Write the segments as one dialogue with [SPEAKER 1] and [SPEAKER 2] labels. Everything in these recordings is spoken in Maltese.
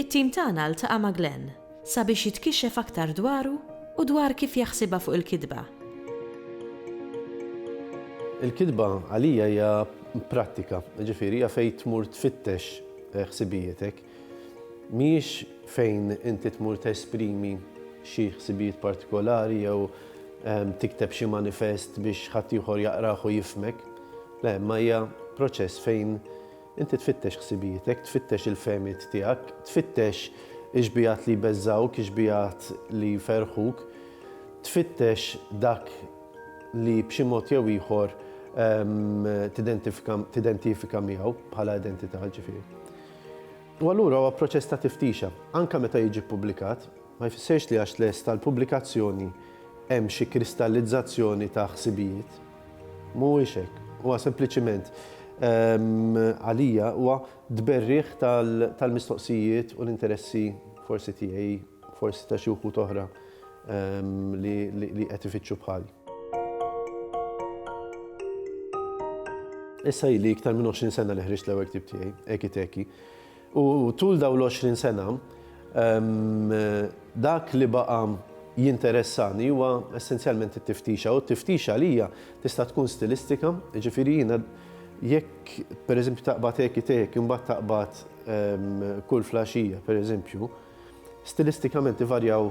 [SPEAKER 1] It-tim tagħna ltaqa' ma' Glenn sabiex jitkixxef aktar dwaru u dwar kif jaħsibha fuq il-kitba. Il-kitba għalija hija prattika, jiġifieri hija fejn tmur tfittex ħsibijietek. Mhijiex fejn inti tmur tesprimi xi ħsibijiet partikolari jew tikteb xi manifest biex ħaddieħor jaqrah u jifhmek. Le, imma hija proċess fejn Inti tfittex ħsibietek, tfittex il-fehmiet tiegħek, tfittex ix-xbigħat li jbeżżgħuk, ix-xbigħat li jferrħuk, tfittex dak li b'xi mod jew ieħor tidentifika miegħu bħala identità, ġifieri. U allura huwa proċess ta' tiftixa. Anke meta jiġi ppubblikat, ma jfissirx li għax lest għall-pubblikazzjoni hemm xi kristallizzazzjoni ta' ħsibijiet. Mhuwiex hekk. Huwa sempliċiment, għalija, huwa tberrigħ tal-mistoqsijiet u l-interessi forsi tiegħi, forsi ta' xi wħud oħra li qed ifittxu bħali. Issa ili iktar minn 20 sena li ħriġt l-ewwel ktieb tiegħi, Eki Teki. U tul dawn l-għoxrin sena, dak li baqa' jinteressani huwa essenzjalment it-tiftixa. U t-tiftix għalija tista' tkun stilistika, jiġifieri jiena jekk pereżempju taqbad Eki Teki u mbagħad taqbad Kull Flaxija pereżempju, stilistikament ivarjaw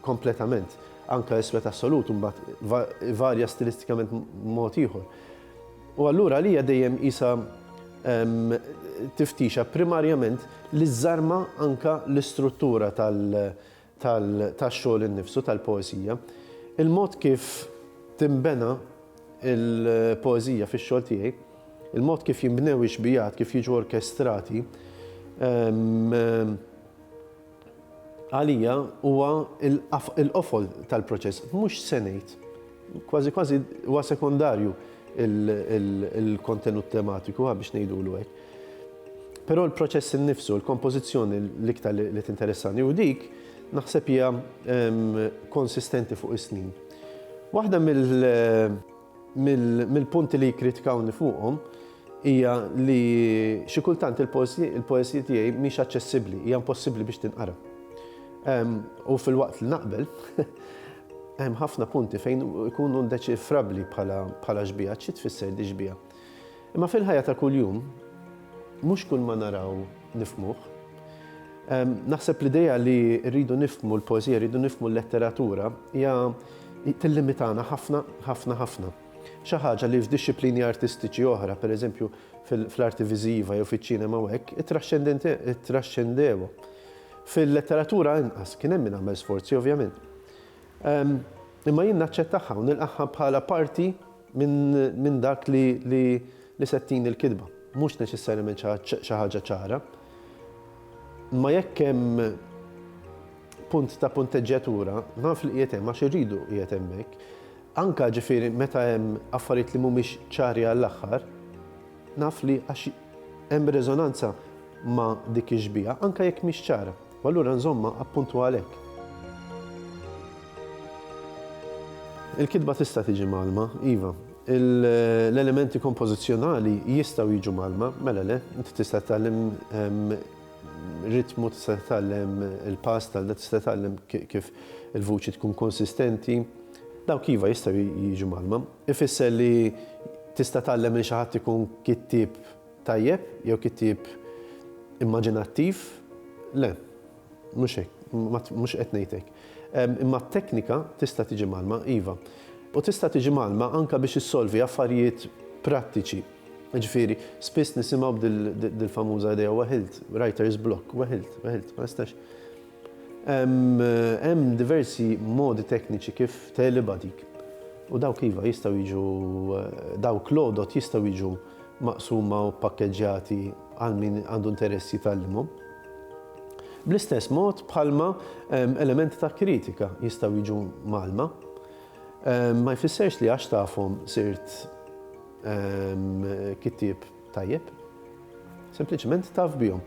[SPEAKER 1] kompletament. Anke Iswed Assolut imbagħad ivarja stilistikament mod ieħor. U allura għalija dejjem qisha tiftixa primarjament li żżarma anke l-istruttura tax-xogħol innifsu tal-poeżija. Il-mod kif tinbena l-poeżija fix-xogħol tiegħi, il-mod kif jinbnew ix-xbijat, kif jiġu orkestrati, Għalija huwa l-qofol tal-proċess. Mhux se ngħid, kważi kważi huwa sekondarju l-kontenut tematiku, ha biex ngħidulu hekk. Però l-proċess innifsu, l-kompożizzjoni l-iktar li tinteressani u dik naħseb hija konsistenti fuq is-snin. Waħda mill- Mill-punti li jikkritikawni fuqhom hija li xi kultant il-poeżija tiegħi mhix aċċessibbli, hija impossibbli biex tinqara. U filwaqt li naqbel, hemm ħafna punti fejn ikunu ndeċifrabbli bħala xbieha, xi tfisser di xbieha. Imma fil-ħajja ta' kuljum, mhux kulma naraw nifhmuh. Naħseb l-idea li rridu nifhmu l-poeżija, rridu nifhmu l-letteratura hija tillimitana ħafna, ħafna, ħafna. Xi ħaġa li f'dixxiplini artistiċi oħra, pereżempju fl-arti viżiva jew fiċ-ċinema u hekk, ittraxxendewha. Fil-letteratura inqas, kien hemm min għamel sforzi ovvjament. Imma jien naċċettagħha u nilqagħha bħala parti minn dak li se tini l-kitba. Mhux neċessarjament xi ħaġa ċara. Imma jekk hemm punt ta' punteġġjatura, naf li qiegħed hemm għax irridu qiegħed hemmhekk. Anke ġifieri meta hemm affarijiet li mhumiex ċari għall-aħħar, naf li għax hemm reżonanza ma' dik ix-xbieha, anke jekk mhix ċara. U allura nżommha appuntu għalhekk. Il-kitba tista' tiġi mgħallma, iva. L-elementi kompożizzjonali jistgħu jiġu mgħallma, mela le, inti tista' titgħallem ritmu, tista' titgħallem il-pass tal tista' titgħallem kif il-vuċi tkun konsistenti. Dawk iva jistgħu jiġu mgħallma. Ifisser li tista' tgħallem lil xi ħadd ikun kittieb Tajjeb jew kittieb immaġinattiv? Le, mhux hekk, mhux qed ngħid hekk. Imma t-teknika tista' tiġi mgħallma, iva. U tista' tiġi mgħallma anke biex issolvi affarijiet prattiċi. Jiġifieri, spiss nisimgħu b'dil-famuża idea weħilt, writer's block, weħilt, weħilt, ma nistax. Hemm diversi modi tekniċi kif tegħlibha dik. U dawk iva jistgħu jiġu dawk l-għodod jistgħu jiġu maqsuma u ppakkeġġjati għal min għandu interess jitgħallimhom. Bl-istess mod bħalma elementi ta' kritika jistgħu jiġu mgħallma, ma jfissirx li għax tafhom sirt kittieb Tajjeb. Sempliċement taf bihom.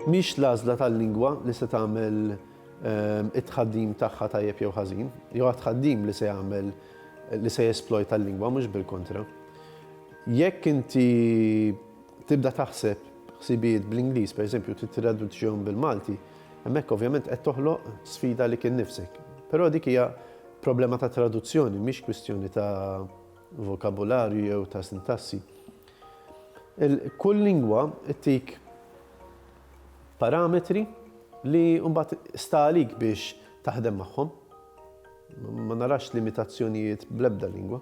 [SPEAKER 1] Mhix l-għażla tal-lingwa li se tagħmel ehm, it-tħaddim tagħha tajjeb jew ħażin, jew għat-tħaddim li se jagħmel li se jesplojta l-lingwa mhux bil-kontra. Jekk inti tibda taħseb ħsibijiet bl-Ingliż, per eżempju, titraduċjom bil-Malti, hemmhekk ovvjament qed toħloq sfida li kien nifsek. Però dik hija Problema ta' traduzzjoni, mhix kwistjoni ta' vokabularju jew ta' sintassi. Kull lingwa ttik parametri li mbagħad sta għalik biex taħdem magħhom. Ma narax limitazzjonijiet bl-ebda lingwa.